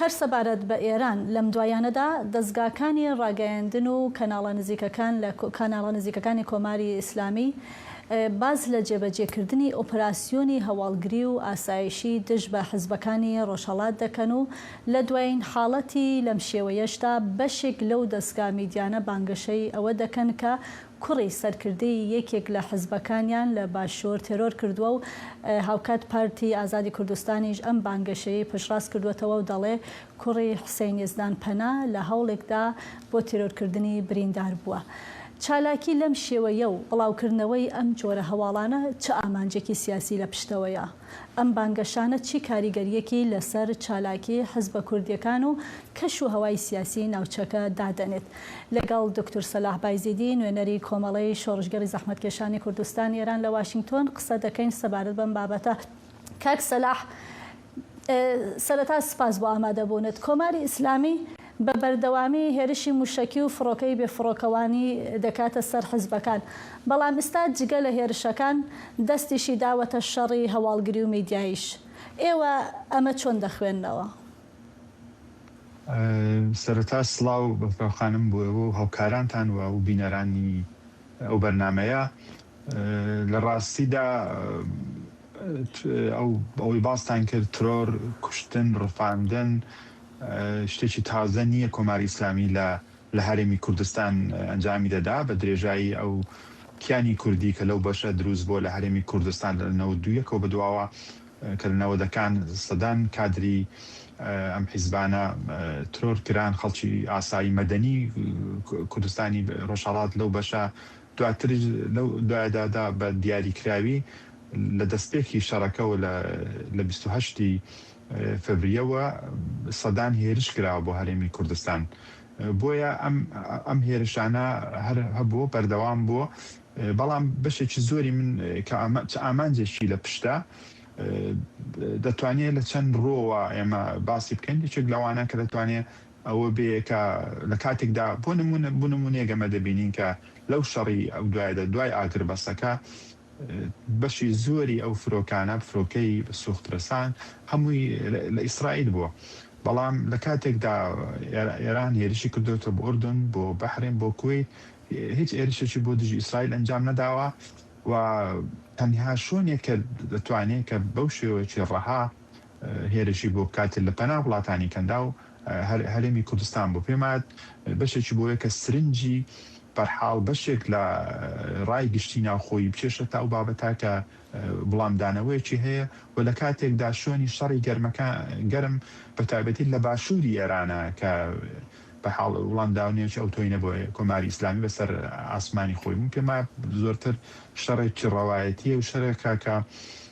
هەر سەبارەت بە ئێران، لەم دواییانەدا دەزگاکانی ڕاگەیاندن و کەناڵە نزیکەکان لە کاناڵە نزیکەکانی کۆماری ئیسلامی باس لە جێبەجێکردنی ئۆپراسیۆنی هەواڵگری و ئاسایشی دژ بە حزبەکانی ڕۆژهەڵات دەکەن و لە دوایین حاڵەتی لەم شێوەیەشدا بەشێک لەو دەزگا میدیانە بانگەشەی ئەوە دەکەن کە کوڕی سەرکردەی یەکێک لە حزبەکانیان لە باشوور تێرۆر کردووە و هاوکات پارتی ئازادی کوردستانیش ئەم بانگەشەیەی پشتڕاست کردووەتەوە و دەڵێ کوڕی حسین یەزدان پەنا لە هەوڵێکدا بۆ تێرۆرکردنی بریندار بووە. چالاکی لەم شێوەیە و بڵاوکردنەوەی ئەم جۆرە هەواڵانە چ ئامانجێکی سیاسی لە پشتەوەیە؟ ئەم بانگەشانە چی کاریگەرییەکی لەسەر چالاکی حزبە کوردییەکان و کەش و هەوای سیاسی ناوچەکە دادەنێت؟ لەگەڵ دوکتور سەلاح بایزیدی، نوێنەری کۆمەڵەی شۆڕشگێڕی زەحمەتکێشانی کوردستان ئێران لە واشینگتۆن قسە دەکەین سەبارەت بەم بابەتە. کاک سەلاح، سەرەتا سپاس بۆ ئامادەبوونت. کۆماری ئیسلامی بە بەردەوامی هێرشی موشەکی و فڕۆکەی بێ فڕۆکەوانی دەکاتە سەر حزبەکان، بەڵام ئیستا جگە لە هێرشەکان دەستیشی داوەتە شەڕی هەواڵگری و میدیاییش. ئێوە ئەمە چۆن دەخوێننەوە؟ سەرەتا سڵاو بەفراوخانم بۆ ئێوە و هاوکارانتان و بینەرانی ئەو بەرنامەیە. لە ڕاستیدا ئەوەی باستان کرد ترۆر، کوشتن، ڕفاندن شتێکی تازە نییە کۆماری ئیسلامی لە هەرێمی کوردستان ئەنجامی دەدا، بە درێژایی ئەو کیانی کوردی کە لەو بەشە دروست بووە لە هەرێمی کوردستان لە نەوەد و یەک ەوە بەدواوە کە لە نەوەدەکان سەدان کادری ئەم حیزبانە ترۆر کران خەڵکی ئاسایی مەدەنی کوردستانی ڕۆژهەڵات لەو بەشە دواتریش لەو دوایەدادا بە دیاریکراوی لە دەستپێکی شەڕەکەوە لە لە بیست و هەشت ی فەبریەوە سەدان هێرش کراوە بۆ هەرێمی کوردستان بۆیە ئەم ئەم هێرشانە هەر هەبووە بەردەوام بووە بەڵام بەشێکی زۆری من کە چ ئامانجێکی لە پشتە دەتوانێت لە چەند ڕۆوە ئێمە باسی بکەین یەکێک لەوانە کە دەتوانێت ئەوە بێ کە لە کاتێکدا بۆ نموونە بۆ نموونەیەک ئەمە دەبینین کە لەو شەڕی ئەو دوایەدا دوای ئاگربەستەکە بەشی زۆری ئەو فرۆکانە فرۆکەی سوخت رەسان هەمووی لە ئیسرائیل بووە بەڵام لە کاتێکدا ئێران هێرشی کردۆتە بۆ ئوردن بۆ بەحرێن بۆ کوەیت هیچ هێرشێکی بۆ دژی ئیسرائیل ئەنجام نەداوە و تەنها شوێنێک کە دەتوانێت کە بەو شێوەیەکی ڕەها هێرشی بۆ بکات لە پەنا وڵاتانی کەنداو هەرێمی کوردستان بوو پێم وایە بەشێکی بۆیە کە سرنجی بەرحاڵ بەشێک لە ڕای گشتی ناوخۆی بچێشە تا ئەو بابەتا کە وڵامدانەوەیەکی هەیە و لە کاتێکدا شوێنی شەڕی گەرمەکە گەرم بە تایبەتی لە باشووری ئێرانە کە بە حاڵ وڵامداونێکی ئەو تۆینە بۆ کۆماری ئیسلامی بەسەر ئاسمانی خۆی بوون پێما زۆرتر شەڕێکی ڕەوایەتیە و شەرێکە کە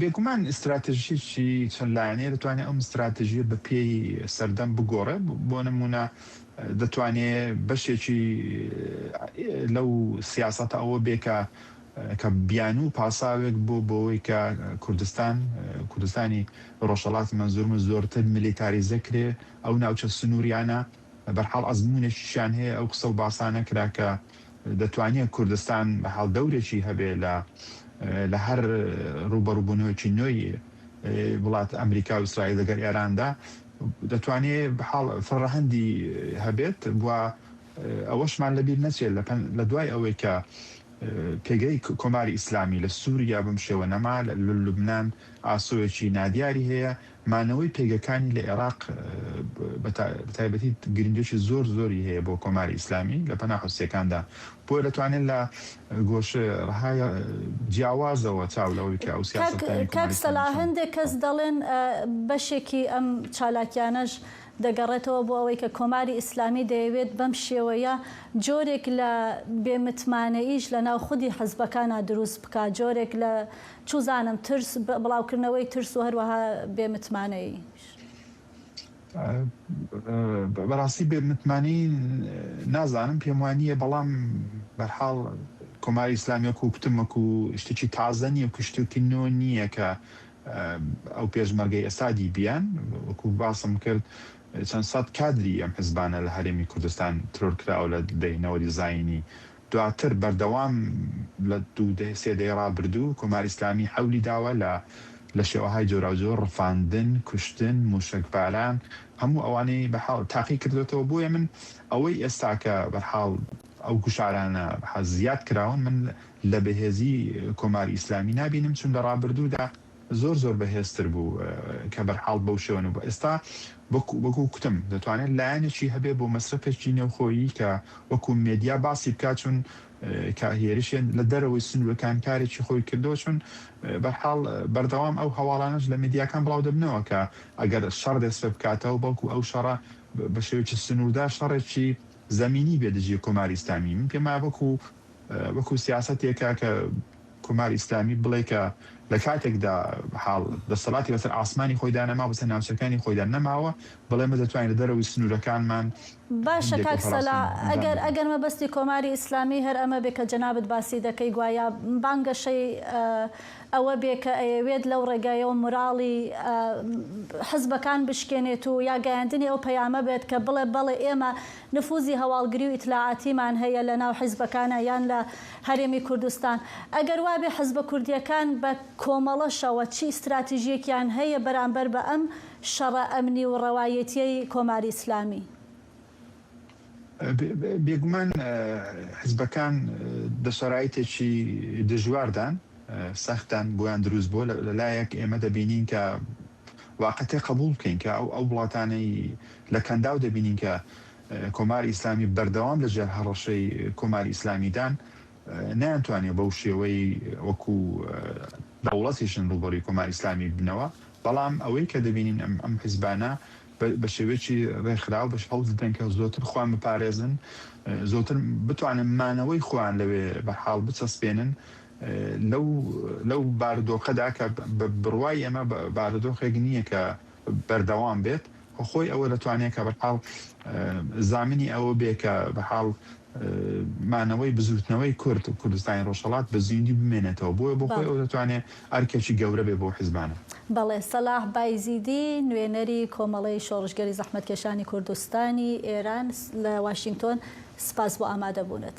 بێگومان ستراتژیی چەند لایەنەیە، دەتوانێت ئەم ستراتژییە بە پێی سەردەم بگۆڕێت، بۆ نموونە دەتوانێت بەشێکی لەو سیاسەتە ئەوە بێت کە کە بیانوو و پاساوێک بۆ بەوەی کە کوردستان، کوردستانی ڕۆژهەڵات مەنزوورم، زۆرتر میلیتاریزە کرێت، ئەو ناوچە سنوورییانە، بەرحاڵ ئەزموونێکیشیان هەیە ئەو قسە و باسە نەکرا کە دەتوانیە کوردستان بەحاڵ دەورێکی هەبێ لە لە هەر ڕووبەڕووبوونەوەکی نۆی وڵات ئەمریکا و ئیسرائیل لەگەر ئێراندا دەتوانێ بەحاڵ فڕەهەندی هەبێت و ئەوەشمان لەبیر نەچێت لە لە دوای ئەوەی کە پێگەی کۆماری ئیسلامی لە سووریا بم شێوە نەما لە لوبنان ئاسۆیەکی نادیاری هەیە مانەوەی پێگەکانی لە ئێراق بەتایبەتی گرنگیەکی زۆر زۆری هەیە بۆ کۆماری ئیسلامی لە پەنا حوسیەکاندا بۆیە دەتوانێت لە گۆشە ڕهای جیاوازەوە چاو لەوە بکە ئەو سیاسەتەکانی کۆماری ئیسلامی سەلا هەندێک کەس دەڵێن بەشێکی ئەم چالاکیانەش دەگەڕێتەوە بۆ ئەوەی کە کۆماری ئیسلامی دەیەوێت بەم شێوەیە جۆرێک لە بێ متمانەییش لە ناو خودی حزبەکانا دروست بکا جۆرێک لە چوزانم ترس، بڵاوکردنەوەی ترس و هەروەها بێ متمانەییش. بەراستی بێ متمانەیی نازانم پێم وا نییە بەڵام بەرحاڵ کۆماری ئیسلامی وەکو کوتم وەکو شتێکی تازە نییە وەکو شتێکی نۆ نییە کە ئەو پێشمەرگەی ئێستا دیبیان وەکو باسم کرد چەند سەد کادری ئەم حزبانە لە هەرێمی کوردستان ترۆر کراوە لە دەی نەوەدی زاینی دواتر بەردەوام لە دوو دەیە سێ دەیەی ڕابردوو کۆماری ئیسلامی حەولی داوە لە لە شێوەهای جۆراوجۆر ڕفاندن، کوشتن، مووشەکباران هەموو ئەوانەی بەحاڵ تاقی کردۆتەوە بۆیە من ئەوەی ئێستا کە بەحاڵ ئەو گوشارانە بەحاز زیاد کراون من لە بەهێزی کۆماری ئیسلامی نابینم چون لە ڕابردوودا زۆر زۆر بەهێزتر بوو کە بەرحاڵ بەو شێوە نەبوو ئێستا وەک وەک وتم دەتوانێت لایەنێکی هەبێت بۆ مەسرەفێکی نێوخۆیی کە وەکو مێدیا باسی بکات چون کە هێرشێ لە دەرەوەی سنوورەکان کارێکی خۆی کردەوە چون بەرحاڵ بەردەوام ئەو هەواڵانەش لە مێدیاکان بڵاو دەبنەوە کە ئەگەر شەڕ دەست پێ بکاتەوە بەڵکو ئەو شەڕە بە شێوەیەکی سنووردار شەڕێکی زەمینی بێ دژی کۆماری ئیسلامی من پێم وایە وەکو وەکو سیاسەتێکە کە کۆمار ئیسلامی بڵێ کە لە کاتێکدا حاڵ دەسەڵاتی بەسەر ئاسمانی خۆیدا نەما بەسەر ناوچەکانی خۆیدا نەماوە بڵێ مە دەتوانین لە دەرەوەی سنوورەکانمان باشە هەندێک کاک سەلا ئۆپەراسیۆن ئەنجام ئەگەر بدەین. ئەگەر مەبەستی کۆماری ئیسلامی هەر ئەمە بێ کە جەنابت باسی دەکەی گوایا بانگەشەی ئەوە بێ کە ئەیەوێت لەو ڕێگایەوە موراڵی حزبەکان بشکێنێت و یا گەیاندنی ئەو پەیامە بێت کە بڵێ بەڵێ ئێمە نفوزی هەواڵگری و ئیتلاعاتیمان هەیە لە ناو حیزبەکانا یان لە هەرێمی کوردستان. ئەگەر وابێ حیزبە کوردییەکان بە کۆمەڵەشەوە چی ئیستراتیژییەکیان هەیە بەرامبەر بە ئەم شەڕە ئەمنی و ڕەوایەتییەی کۆماری ئیسلامی؟ بێگومان حیزبەکان دە شەرایتێکی دژواردان، سەختدان بۆیان دروست بووە. لە لایەک ئێمە دەبینین کە واقعتە قەبووڵ بکەین کە ئەو وڵاتانەی لە کەنداو دەبینین کە کۆماری ئیسلامی بەردەوام لە ژێر هەڕەشەی کۆماری ئیسلامیدان نەیانتوانیوە بەو شێوەی وەکو دەوڵەتیشن ڕووبەڕوی کۆماری ئیسلامی بنەوە بەڵام ئەوەی کە دەبینین ئەم ئەم حیزبانە بە شێوێکی ڕێکخراو بەش هەوڵ دەدەن کە زۆتر خۆیان بپارێزن زۆتر بتوانن مانەوەی خۆیان لەوێ بە حاڵ بچەسپێنن لەو بارودۆخەدا کە بە بڕوای ئێمە بارودۆخێک نییە کە بەردەوام بێت و خۆی ئەوە دەتوانێت کە بەرحاڵ زامنی ئەوە بێ کە بەحاڵ مانەوەی بزووتنەوەی کورد و کوردستانی ڕۆژهەڵات بە زیندی بمێنێتەوە بۆیە بۆ خۆی ئەو دەتوانێت ئەرکێکی گەورە بێ بۆ حیزبانە. بەڵێ، سەلاح بایزیدی، نوێنەری کۆمەڵەی شۆڕشگێری زەحمەتکێشانی کوردستانی ئێران لە واشینگتۆن، سپاس بۆ ئامادەبوونت.